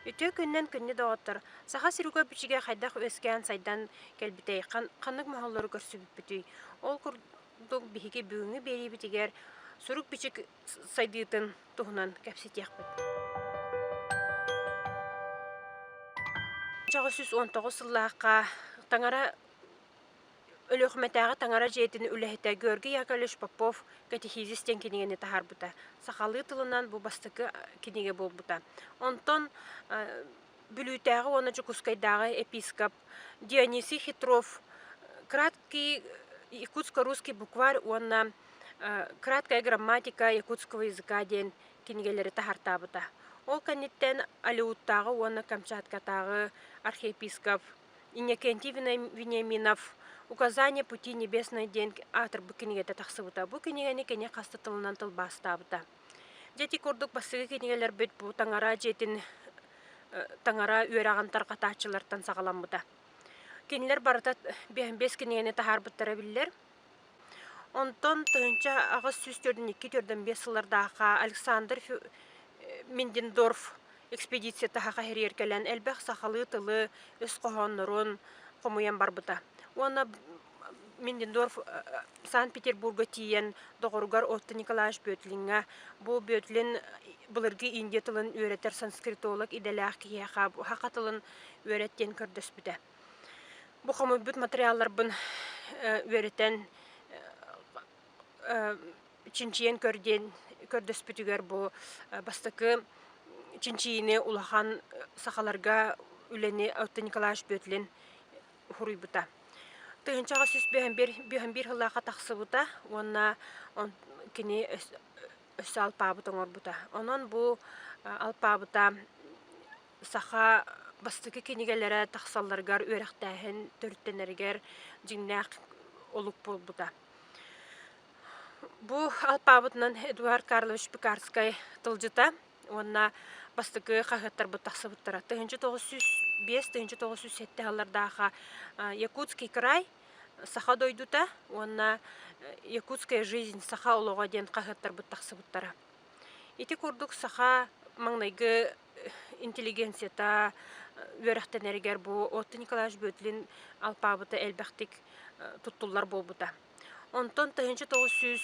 Үтүө күннэн күннү доҕоттор! Саха сирига бичигэ хайдах үөскээн сайдан кэлбитэй, ханнык моһоллору көрсүбүппүтүй? Ол курдук биһиги бүгүҥҥү биэриибитигэр сурук-бичик сайдыытын туһунан кэпсэтиэхпит. Чаҕы сүүс уон тоҕус сыллаахха Таҥара Өлүөхүмэтээҕи Таҥара дьиэтин үлэһитэ Георгий Яковлевич Попов катехизис диэн кинигэни таһаарбыта. Сахалыы тылынан бу бастакы кинигэ буолбута. Онтон Бүлүүтээҕи уонна Дьокуускайдааҕы епископ Дионисий Хитров краткий якутско-русский букварь уонна Краткая грамматика якутского языка диэн кинигэлэри таһартаабыта. Ол кэнниттэн Алиууттааҕы уонна Камчаткатааҕы архиепископ Иннокентий Вениаминов «Указания пути небесной» диэн аатырбыт кинигэтэ тахсыбыта. Бу кинигэни кини хас да тылынан тылбаастаабыта. Дьэ ити курдук бастакы кинигэлэрбит бу таҥара дьиэтин таҥара үөрэҕин тарҕатааччылартан саҕаламмыта. Кинилэр барыта бэс кинигэни таһаарбыттара биллэр. Онтон тыһыынча аҕыс сүүс төрдүн икки төрдөн биэс сыллардаахха Александр Миндендорф экспедиция таһаҕа иһэригэр кэлэн элбэх сахалыы тылы, өс хоһооннорун хомуйан барбыта. Уонна Миндендорф Санкт-Петербурга тиийэн доҕоругар Отто Николаевич Бөөтлиҥҥэ бу Бөөтлин былыргы индия тылын үөрэтэр санскритолог идэлээх киһиэхэ саха тылын үөрэт диэн көрдөспүтэ. Бу хомуйбут материалларбын үөрэтэн чинчийэн көрдүөн көрдөспүтүгэр бу бастакы чинчийиини улахан сахаларга үлэни Отто Николаевич Бөтүлин суруйбута. Тыһынчаҕа сүүс бөһөн биир бөһөн биир сыллаахха тахсыбыта уонна он кини өссө алпаабыт оҥорбута. Онон бу алпаабыта саха бастакы кинигэлэрэ тахсалларыгар үөрэхтээһин төрүттэнэригэр дьиҥнээх олук буолбута. Бу алпаабытынан Эдуард Карлович Пекарскай тылдьыта уонна бастакы хаһыаттарбыт тахсыбыттара 1905-1907 аллардаахы Якутский край саха дойдута уонна Якутская жизнь саха олоҕо диэн хаһыаттарбыт тахсыбыттара. Ити курдук саха маҥнайгы интеллигенцията үөрэхтэнэригэр бу Отто Николаевич Бөтлин алпаабыта элбэхтик туттуллар буолбута. Онтон 1900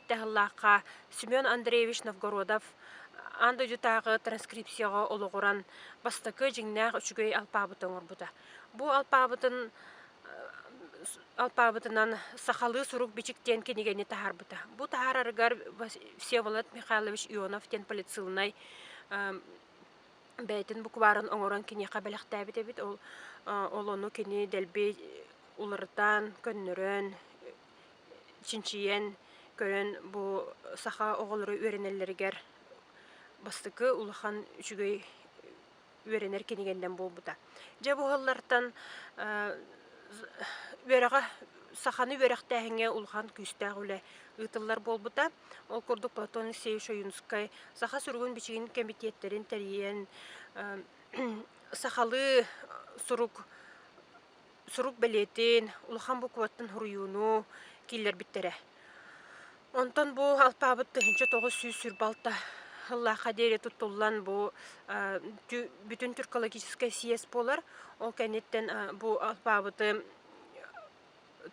сыллаахха Семен Андреевич Новгородов аан дойдутааҕы транскрипцияҕа олоҕуран бастакы дьиҥнээх үчүгэй алпаабыты оҥорбута. Бу алпаабытын алпаабытынан сахалыы сурук-бичик диэн кинигэни таһаарбыта. Бу таһаарарыгар Всеволод Михайлович Ионов диэн полицилнай бэйэтин букварын оҥорон киниэхэ бэлэхтээбит эбит ол ол ону кини дэлби уларытан көннөрөн чинчийэн көрөн бу саха оҕолоро үөрэнэллэригэр бастакы улахан үчүгэй үөрэнэр кинигэннэн буолбута. Дьэ, бу сыллартан үөрэҕэ саханы үөрэхтээһиҥҥэ улахан күүстээх үлэ ыытыллар буолбута. Ол курдук Платон Алексеевич Ойунскай саха суругун-бичигин кэмитиэттэрин тэрийэн сахалыы сурук сурук бэлиэтин, улахан букваттан суруйууну киллэрбиттэрэ. Онтон бу алпаабыт тыһыынча тоҕус сүүс сүр балта ыллаахха диэри туттуллан бу бүтүн түркологическай съезд буолар. Ол кэнниттэн бу алпаабыты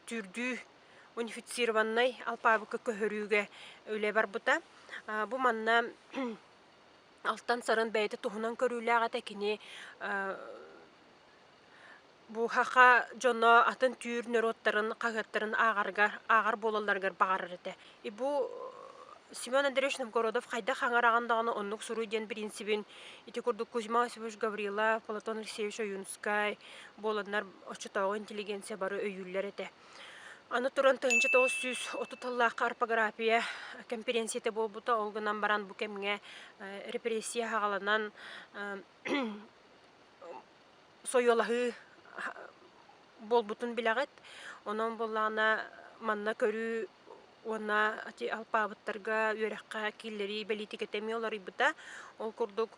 түүрдүү унифицированнай алпаабыкка көһөрүүгэ үлэ барбыта. Бу манна алтан сарын бэйэтэ туһунан көрүүлээх этэ. Кини Бууһаха дьоно атын түүр норуоттарын хаһыаттарын ааҕаргар, ааҕар буолалларыгар баҕарар этэ. И бу Семен Андреевич Новгородов хайдах аҥараҕын даҕаны оннук суруй диэн принцибин ити курдук Кузьма Осипович Гаврила, Платон Алексеевич Ойуунускай буоланнар оччотооҕу интеллигенция бары өйүүллэр этэ. Аны туран тыһыынча тоҕус сүүс отут сыллаахха орфография кэмпириэнсийэтэ буолбута ол гынан баран бу кэмҥэ репрессия аҕаланан сойуолаһыы буолбутун билэҕит. Онон буоллаҕына манна көрүү уонна ити алпаабыттарга үөрэххэ киирэрии бэлиитикэтэ эмиэ уларыйбыта. Ол курдук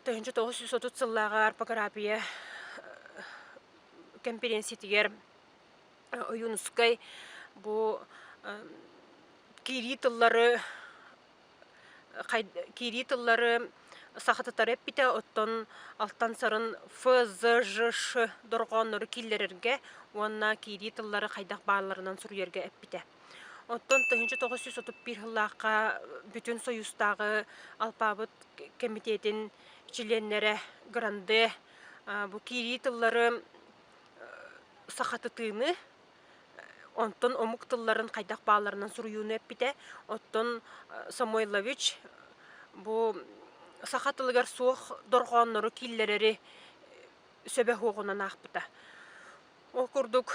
тыһыынча тоҕус жүз отут сыллааҕы арпагыраапыйа кэмпириэнсийэтигэр ойуунускай бу киирии тыллары киирии тыллары сахатытары эппитэ, оттон алтан-сарын ФЗЖШ дорҕооннору киллэрэргэ уонна киирии тыллары хайдах баалларынан суруйарга эппитэ. Оттон 1931 сыллаахха Бүтүн Союзтааҕы алпаабыт кэмитиэтин чилиэннэрэ Гранде бу киирии тыллары сахатытыыны Онтон омук тылларын хайдах баалларынан суруйууну эппитэ. Оттон Самойлович бу саха тылыгар суох дорҕооннору киллэрэри сөбө суоҕунан аахпыта. Ол курдук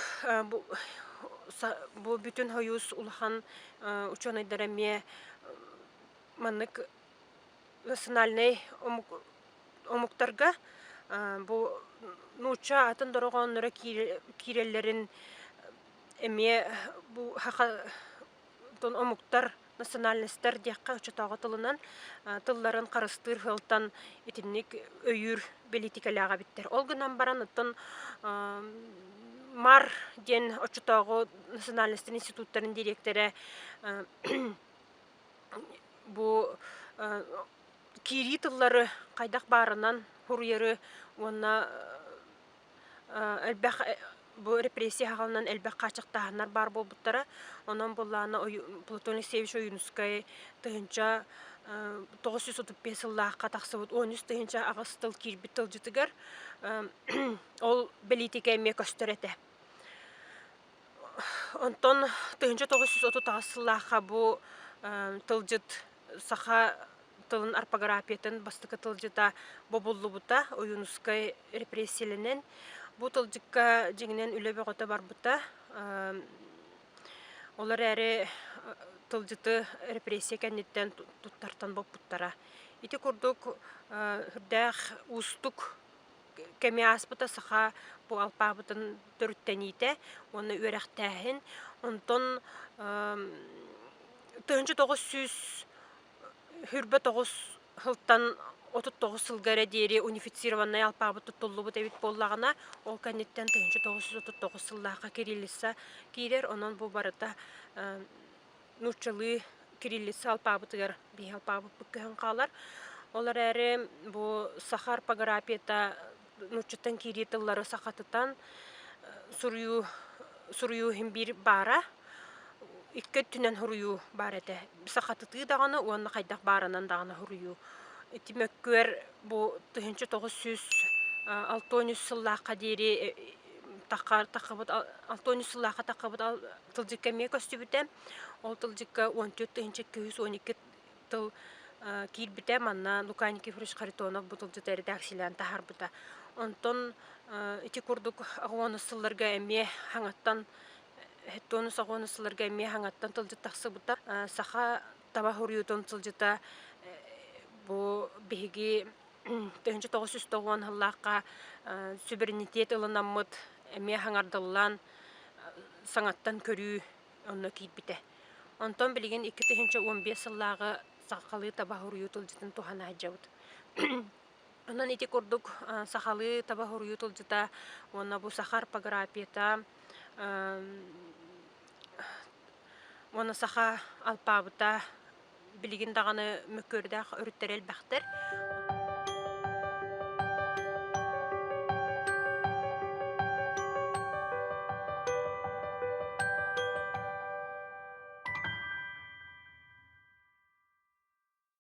бу бүтүн сойуус улахан учуонайдара эмиэ маннык национальнай омуктарга бу нуучча атын дорҕоонноро киирэллэрин эмиэ бу омуктар национальностар диэххэ оччотооҕу тылынан тылларын харыстыыр сыалтан итинник өйүүр бэлиитикэлээх эбиттэр ол гынан баран оттон мар диэн оччотооҕу национальностар институттарын дириэктэрэ бу киирии тыллары хайдах баарынан хуруйары уонна элбэх бу репрессия хаалынан элбэх хааччахтааһыннар баар буолбуттара онон буллаана платон алексеевич ойуунускай тыһынча тоҕус жүз отут биэс сыллаахха тахсыбыт он үс тыһынча аҕыс тыл киирбит тылдьытыгар ол бэлиитикэ эмиэ көстөр этэ Онтон тыһыынча тоҕус жүз отут аҕыс сыллаахха бу тылдьыт саха тылын орфографиятын бастакы тылдьыта бобуллубута Ойуунускай репрессияланан. Бу тылдьыкка дьиҥинэн үлэ бөҕөтө барбыта. Ол эрээри тылдьыты репрессия кэнниттэн туттартан боппуттара. Ити курдук үрдээх уустук кэми ааспыта саха буҕалпаабытын төрүттэниитэ уонна үөрэхтээһин. Онтон тыһыынча тоҕус сүүс хүрбэ тоҕус сылтан отут тоҕус сылга эрэ диэри унифицированнай алпаабыт туттуллубут эбит буоллаҕына, ол кэнниттэн тыһыынча тоҕус сүүс отут тоҕус сыллаахха кириллица киирэр. Онон бу барыта нууччалыы кириллица алпаабытыгар биһи алпаабыппыт көһөн хаалар. Ол эрээри бу саха орпографията нууччаттан киирии тыллары сахатытан суруйуу суруйуу иһин биир баара. Икки өттүнэн суруйуу баар этэ. Сахатытыы даҕаны уонна хайдах баарынан даҕаны суруйуу. Ити мөккүөр бу тыһыынча тоҕус сүүс алтан үс сыллаахха диэри тахха таххабыт алтан үс сыллаахха таххабыт тылдьыкка эмиэ көстүбүтэ. Ол тылдьыкка уон төрт тыһыынча екі жүз он икки тыл киирбитэ. Манна Лука Никифорович Харитонов бу тылдьыты эрэдээксийэлээн таһаарбыта. Онтон ити курдук аҕыонус сылларга эмиэ хаҥаттан сылларга эмиэ хаҥаттан тылдьыт тахсыбыта. Саха таба хуруйуутун сылдьыта бу биһиги тыһыынча тоҕус жүз тоҕуон сыллаахха суверенитет ылынаммыт эмиэ хаҥардыллан саҥаттан көрүү онно киирбитэ. Онтон билигин икки тыһыынча уон биэс сыллааҕы сахалыы таба хуруйуу тылдьытын туһана сылдьабыт. Онон ити курдук сахалыы таба хуруйуу тылдьыта уонна бу саха орфографията Уону саха алпаабыта билигин даҕаны мөккүөрдээх өрүттэрэ элбэхтэр.